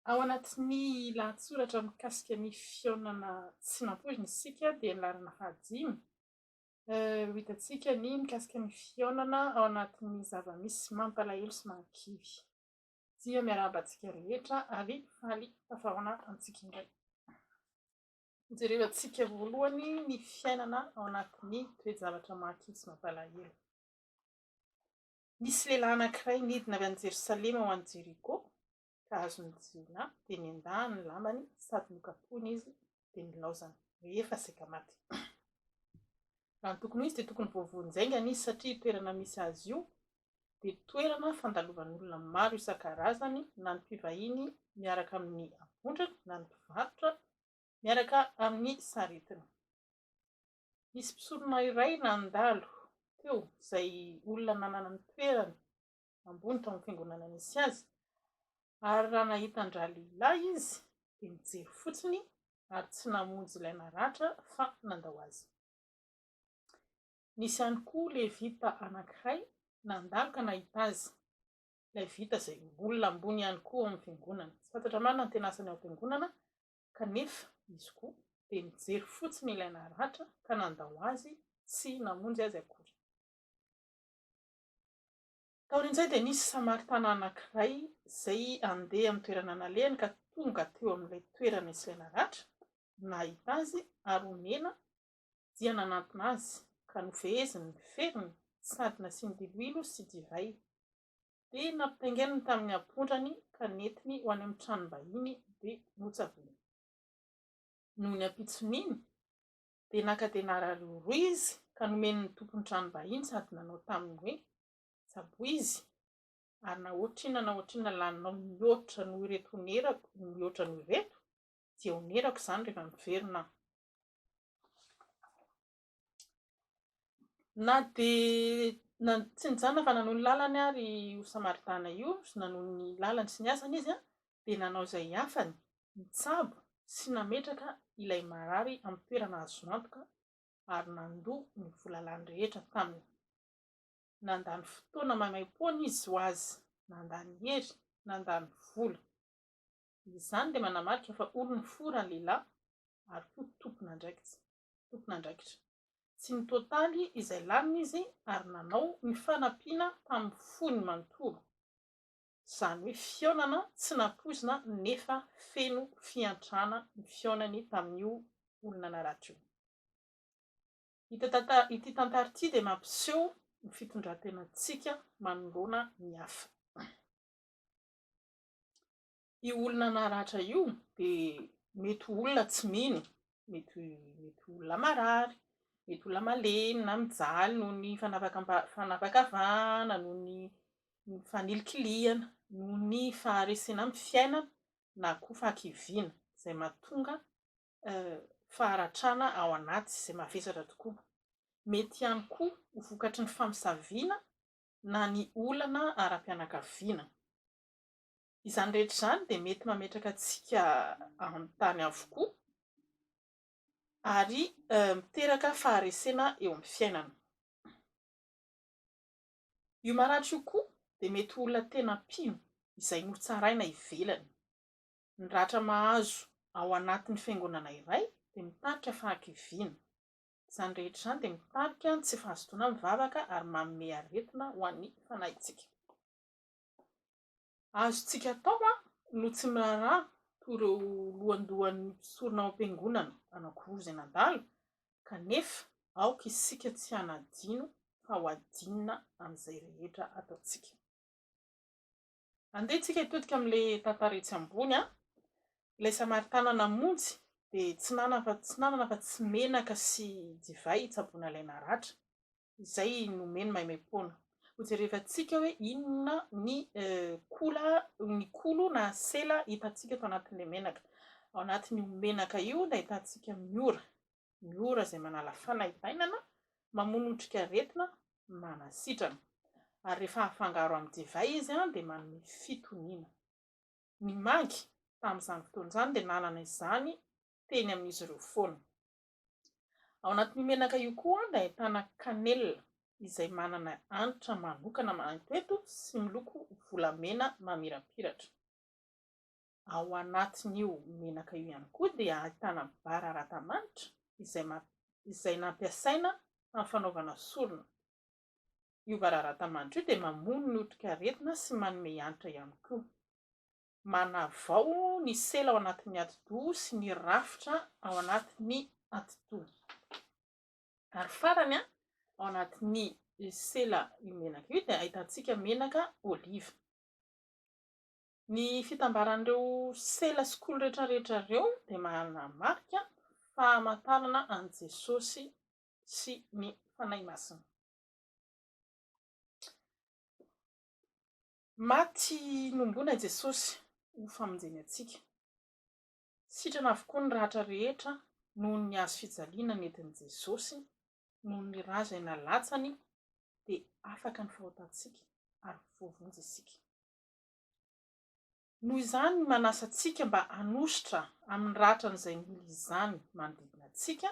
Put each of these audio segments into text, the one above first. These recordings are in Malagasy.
Ao anatin'ny lahatsoratra mikasika ny fihaonana tsy nampoizina isika dia ny laharana fahadimy, ho hitantsika ny mikasika ny fihaonana ao anatin'ny zava-misy mampalahelo sy mahakivy. Dia miarahaba antsika rehetra ary faly tafahaona amintsika indray. Hojerevantsika voalohany ny fiainana ao anatin'ny toe-javatra mahakivy sy mampalahelo. Nisy lehilahy anankiray nidina avy any Jerosalema ho any Jeriko, ka azon'ny jiolahy, dia nendahany ny lambany sady nokapohiny izy, dia nilaozany, rehefa saika maty. Raha ny tokony ho izy dia tokony voavoan'ny jaingany izy, satria io toerana misy azy io dia toerana fandalovan'olona maro isan-karazany, na ny mpivahiny miaraka amin'ny avondriny, na ny mpivarotra miaraka amin'ny saretiny. Nisy mpisorona iray nandalo teo, izay olona nanana ny toerany ambony tao amin'ny fiangonana nisy azy, ary raha nahita an-dralehilahy izy, dia nijery fotsiny ary tsy namonjy ilay naratra fa nandao azy. Nisy ihany koa Levita anankiray nandalo ka nahita azy, Levita izay olona ambony ihany koa ao amin'ny fiangonana. Tsy fantatra marina ny tena asany ao am-piangonana, Kanefa, izy koa dia nijery fotsiny ilay naratra ka nandao azy tsy namonjy azy akory. Taorian'izay dia nisy Samaritana anankiray izay handeha amin'ny toerana nalehany ka tonga teo amin'ilay toerana nisy ilay naratra, nahita azy ary onena dia nanantona azy ka nofeheziny ny feriny sady nasiany diloilo sy divay. dia nampitaingeniny tamin'ny ampondrany ka nentiny ho any amin'ny tranom-bahiny dia notsavony. Noho ny ampitson'iny dia naka dia narariho roa izy ka nomeny ny tompon'ny tranom-bahiny sady nanao taminy hoe, Tsaboy izy ary na ohatrinona na ohatrinona laninao mihoatra noho ireto onerako mihoatra noho ireto dia onerako izany rehefa miverina aho. Na dia na tsy nijanona fa nanohy ny lalany ary io Samaritana io, nanohy ny lalany sy ny asany izy, dia nanao izay hiafany, nitsabo sy nametraka ilay marary amin'ny toerana azo antoka ary nandoa ny vola lany rehetra taminy. Nandany fotoana maimaim-poana izy ho azy, nandany hery, nandany vola. Izany dia manamarika fa olon'ny fo ralehilahy ary koa tompon'andraikitra. tompon'andraikitra. Tsy nitoataly izay laniny izy ary nanao ny fanampiana tamin'ny fony manontolo, izany hoe fihaonana tsy nampoizina nefa feno fiantrana ny fihaonany tamin'io olona naratra io. Ity tantara ity dia mampiseho ny fitondran-tenantsika manoloana ny hafa. Io olona naratra io dia mety ho olona tsy mino, mety mety ho olona marary, mety olona malemy na mijaly noho ny fanavakamba- fanavakavahana, noho ny ny fanilikilihana, noho ny faharesena amin'ny fiainana na koa fahakiviana, izay mahatonga faharatrana ao anaty izay mavesatra tokoa. Mety ihany koa ho vokatry ny famosaviana na ny olana ara-pianakaviana. Izany rehetra izany dia mety mametraka antsika an-tany avokoa ary miteraka faharesena eo amin'ny fiainana. Io maratra io koa dia mety ho olona tena mpino izay notsaraina ivelany. Ny ratra mahazo ao anatin'ny fiangonana iray dia mitarika fahakiviana. Izany rehetra izany dia mitarika ny tsy fahazotoana mivavaka ary manome aretina ho an'ny fanahintsika. Azontsika atao no tsy miraharaha toy ireo lohandohan'ny mpisorona ao am-piangonana anankiroa izay nandalo, kanefa aoka isika tsy hanadino fa ho adinina amin'izay rehetra ataontsika. Andeha tsika hitodika amin'ilay tantara etsy ambony, ilay Samaritana namonjy dia tsy nanana afa-tsy menaka sy divay hitsaboana ilay naratra. izay nomeny maimaimpoana. Hojerevantsika hoe inona ny kola, ny kolo na sela hitantsika tao anatin'ilay menaka. Ao anatin'io menaka io dia ahitantsika ny ora, ny ora izay manala fanaintainana, mamono otrikaretina, manasitrana. Ary rehefa afangaro amin'ny divay izy dia manome fitoniana. Ny mangy tamin'izany fotoana izany dia nanana izany teny amin'izy ireo foana. Ao anatin'io menaka io koa dia ahitana kanelina izay manana hanitra manokana manantoeto sy miloko volamena mamirapiratra. Ao anatin'io menaka io ihany koa dia ahitana bararata-manitra izay izay nampiasaina tamin'ny fanaovana sorona. Io bararata-manitra io dia mamono ny otrikaretina sy manome hanitra ihany koa. manavao ny sela ao anatin'ny atidoha sy ny rafitra ao anatin'ny atidoha. Ary farany, ao anatin'ny sela io menaka io dia ahitantsika menaka oliva. Ny fitambaran'ireo sela sy kolo rehetrarehetra ireo dia manamarika famantarana an'i Jesosy sy ny Fanahy Masina. Maty nombona Jesosy ho famonjeny antsika. Sitrana avokoa ny ratra rehetra noho ny hazo fijaliana nentin'i Jesosy, noho ny ra izay nalatsany dia afaka ny fahotantsika ary voavonjy isika. Noho izany manasa antsika mba hanosotra amin'ny ratran'izay mila izany manodidina antsika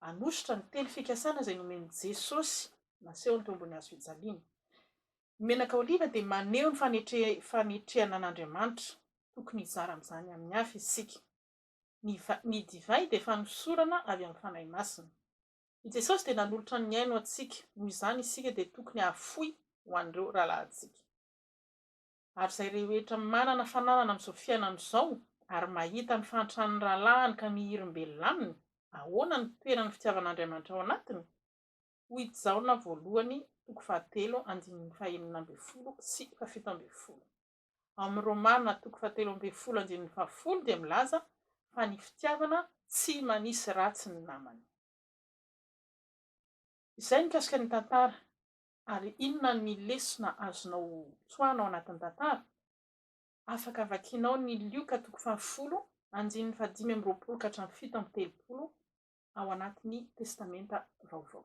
hanosotra ny teny fikasana izay nomen'i Jesosy naseho ny tombony hazo fijaliana. Ny menaka oliva dia maneho ny fanetre-fanetrehana an'Andriamanitra. Tokony hizara amin'izany amin'ny hafa isika. Ny va, ny divay dia fanosorana avy amin'ny Fanahy Masina. I Jesosy dia nanolotra ny ainy ho antsika, noho izany isika dia tokony hahafoy ho an'ireo rahalahintsika. Ary izay rehetra manana fananana amin'izao fiainana izao ary mahita ny fahantran'ny rahalahiny ka mihirimbelona aminy, ahoana no toeran'ny fitiavan'Andriamanitra ao anatiny? Hoy i Jaona voalohany toko fahatelo andininy fahenina ambin'ny folo sy fahafito ambin'ny folo. Ao amin'ny Romana toko fahatelo ambin'ny folo andininy fahafolo dia milaza fa ny fitiavana tsy manisy ratsy ny namany. Izay mikasika ny tantara. ary inona ny lesona azonao tsoahina ao anatin'ny tantara? Afaka vakianao ny Lioka toko fahafolo andininy fahadimy amby roapolo ka hatramin'ny fito amby telopolo ao anatin'ny Testamenta Vaovao.